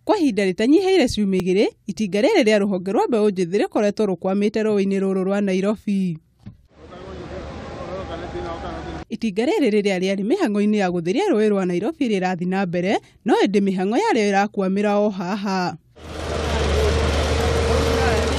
Kwa ihinda rĩtanyihĩire ciumia igĩrĩ, itinga rĩrĩ rĩa rũhonge rwa mbeũ njĩthĩ rĩkoretwo rũkwamĩte rũĩ-inĩ rũrũ rwa Nairobi. Itinga rĩrĩ rĩrĩa rĩarĩ mĩhang'o-inĩ ya gũtheria rũĩ rwa Nairobi rĩrathiĩ na mbere, no ĩndĩ mĩhang'o yarĩo ĩrakwamĩra o haha.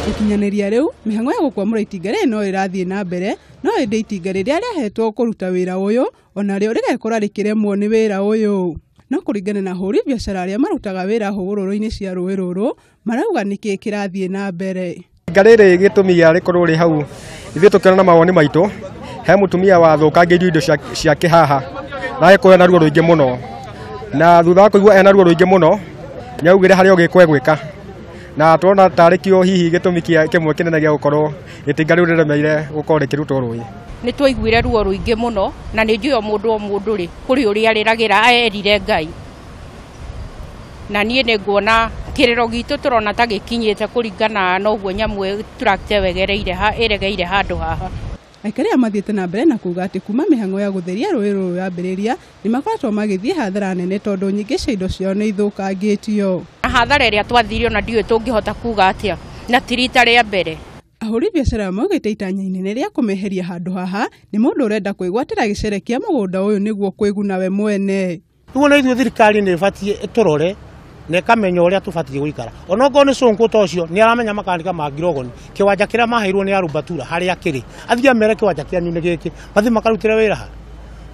Gũkinyanĩria rĩu, mĩhang'o ya gũkwamũra itinga rĩrĩ no ĩrathiĩ na mbere, no ĩndĩ itinga rĩrĩa rĩahetwo kũruta wĩra ũyũ o narĩo rĩgekora rĩkĩremwo nĩ wĩra ũyũ. No kũringana na ahũri biacara arĩa marutaga wĩra hũgũrũrũ-inĩ cia rũĩ rũrũ, marauga nĩkĩĩ kĩrathiĩ na mbere. Ihinda rĩrĩ gĩtũmi gĩa rĩkorwo rĩ hau, ithuĩ tũkĩona na mawoni maitũ, he mũtumia wathũkangĩirio indo ciake haha na agĩkorwo ena ruo rũingĩ mũno. Na thutha wa kũigua ena ruo rũingĩ mũno, nĩ augire harĩ o gĩko egwĩka. Na tũrona tarĩ kĩo hihi gĩtũmi kĩmwe kĩnene gĩa gũkorwo Itinga rĩu rĩremeire gũkorwo rĩkĩrutwo rũĩ. Nĩ twaiguire ruo rũingĩ mũno na nĩ njũĩ o mũndũ o mũndũ rĩ kũrĩ ũrĩa arĩragĩra erire Ngai. Na niĩ nĩ nguona kĩrĩro gitũ tũrona ta gĩkinyĩte kũringana na ũguo nyamũ tũrakite wegereire ĩregeire handũ haha. Aikari aya mathiĩte na mbere na kuuga atĩ kuuma mĩhang'o ya gũtheria rũĩ rũrũ yambĩrĩria, Nĩ makoretwo magĩthiĩ hathara nene tondũ nyingĩ cia indo ciao nĩ ithũkangĩtio. Na hathara ĩrĩa twathiire ona ndiũĩ tũngĩhota kuuga atĩa na ti rita rĩa mbere. Ahũri biacara maugĩte itanya inene rĩa kũmeheria handũ haha nĩ mũndũ ũrenda kwĩgwatĩra gĩcere kĩa mũgũnda ũyũ nĩguo kwĩguna we mwene. Rĩu ona ithuĩ thirikari nĩ ĩbatiĩ ĩtũrore. na ĩkamenya ũrĩa tũbatiĩ gũikara ona okorwo nĩ cũnkũ ta ũcio nĩ aramenya makandĩka ma ngirogoni kĩwanja kĩrĩa maheirwo nĩ arubatura harĩa kĩrĩ athiĩ amere kĩwanja kĩanyu nĩ gĩkĩ mathiĩ makarutĩre wĩra ha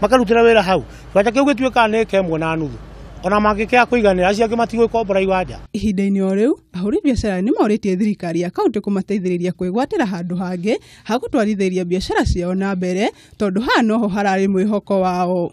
makarutĩre wĩra hau kĩwanja kĩu gĩtuĩkaga nĩ ĩka ĩmwe na nuthu ona mangĩkĩya kũiganĩra acio angĩ matigwĩkombora iwanja Ihinda-inĩ o rĩu, ahũri biacara nĩ morĩtie thirikari ya kaunti kũmateithĩrĩria kwĩgwatĩra handũ hangĩ ha gũtwarithĩria biacara ciao na mbere tondũ haha noho hararĩ mwĩhoko wao.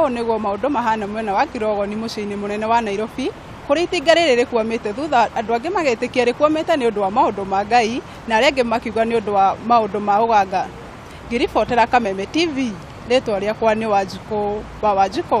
Ũũ nĩguo maũndũ mahana mwena wa Kirogoni mũciĩ-inĩ mũnene wa Nairobi kũrĩa itinga rĩrĩ rĩkwamĩte thutha andũ angĩ magetĩkia rĩkwamĩte nĩ ũndũ wa maũndũ ma Ngai na arĩa angĩ makiuga nĩ ũndũ wa maũndũ ma ũganga. Ngĩribotera Kameme TV, rĩtwa rĩakwa nĩ Wanjikũ wa Wanjikũ.